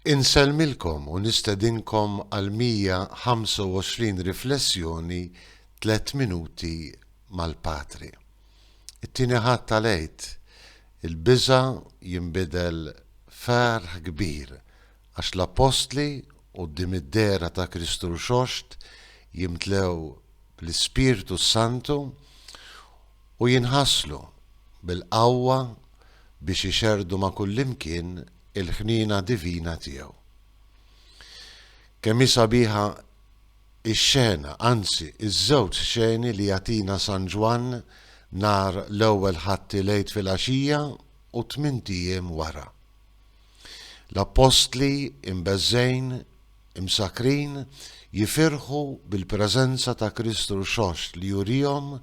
Insellmilkom u nistedinkom għal 125 riflessjoni tliet minuti mal-Patri. It-Tieni Ħadd tal-Għid, il-biża' jinbidel f'ferħ kbir Għax l-Appostli, quddiem id-dehra ta' Kristu Rxoxt, jimtlew bl-Ispirtu s-Santu u jinħaslu bil-qawwa biex ixerrdu ma' kullimkien il-ħniena divina tiegħu. Kemm hi sabiħa x-xena, anzi, iż-żewġ xeni li jagħtina San Ġwann nhar l-Ewwel Ħadd il-Għid filgħaxija u tmint ijiem wara. L-appostli, imbeżżgħin, imsakkrin, jifirħu bil-preżenza ta' Kristu Rxoxt li jurihom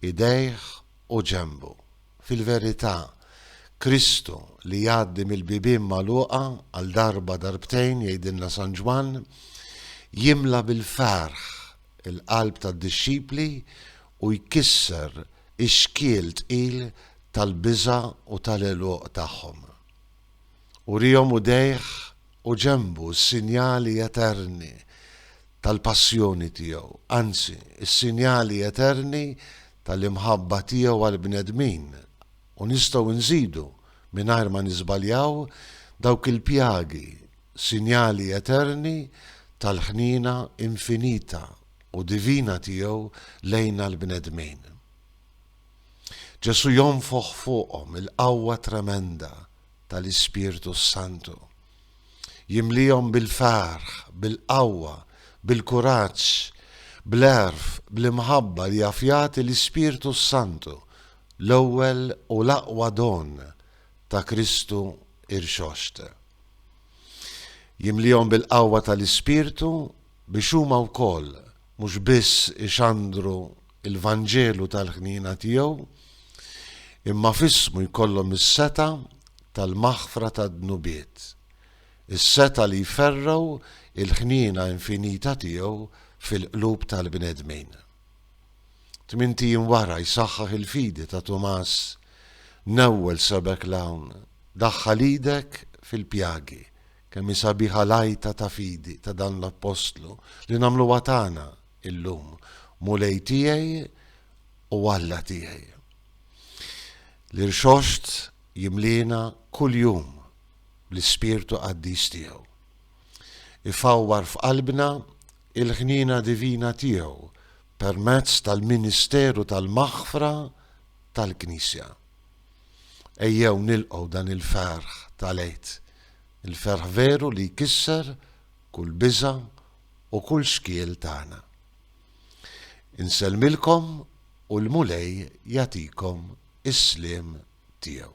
idejh u ġenbu. Fil-verità, Kristu, li jgħaddi mill-bibien magħluqa għal darba darbtejn, jgħidilna San Ġwann, jimla bil-ferħ il-qalb tad-dixxipli u jkisser ix-xkiel tqil tal-biża' u tal-għeluq tagħhom. Urihom udejh u ġenbu s-sinjali eterni tal-passjoni tiegħu, anzi, is-sinjali eterni tal-imħabba tiegħu għall-bnedmin, u nistgħu nżidu, mingħajr ma niżbaljaw, dawk il-pjagi, sinjali eterni tal-ħniena infinita u divina tiegħu lejna l-bnedmin. Ġesù jonfoħ fuqhom il-qawwa tremenda tal-Ispirtu s-Santu. Jimlihom bil-ferħ, bil-qawwa, bil-kuraġġ, bl-għerf, bl-imħabba li jaf jagħti l-Ispirtu s-Santu, l-ewwel u l-aqwa don ta' Kristu irxoxt. Jimlihom bil-qawwa tal-Ispirtu biex huma wkoll mhux biss ixandru il-Vanġelu tal-ħniena tiegħu, imma f'ismu jkollhom is-setgħa tal-maħfra tad-dnubiet, is-setgħa li jferrgħu l-ħniena infinita tiegħu fil-qlub tal-bnedmin. Tmint ijiem wara jsaħħaħ il-fidi ta' Tumas, Newwel sebgħek 'l hawn, daħħal idek fil-pjagi, kemm hi sabiħa l-għajta ta' fidi ta' dan l-appostlu li nagħmluha tagħna illum, Mulej tiegħi u Alla tiegħi. L-irxoxt jimliena kuljum bl-ispirtu qaddis tiegħu. Ifawwar f'qalbna l-ħniena divina tiegħu permezz tal-ministeru tal-maħfra tal-Knisja. Ejjew nilqgħu dan il-ferħ tal-Għid, il-ferħ veru li jkisser kull biża' u kull xkiel tagħna. Insellmilkom u l-Mulej jagħtikom is-sliem tiegħu.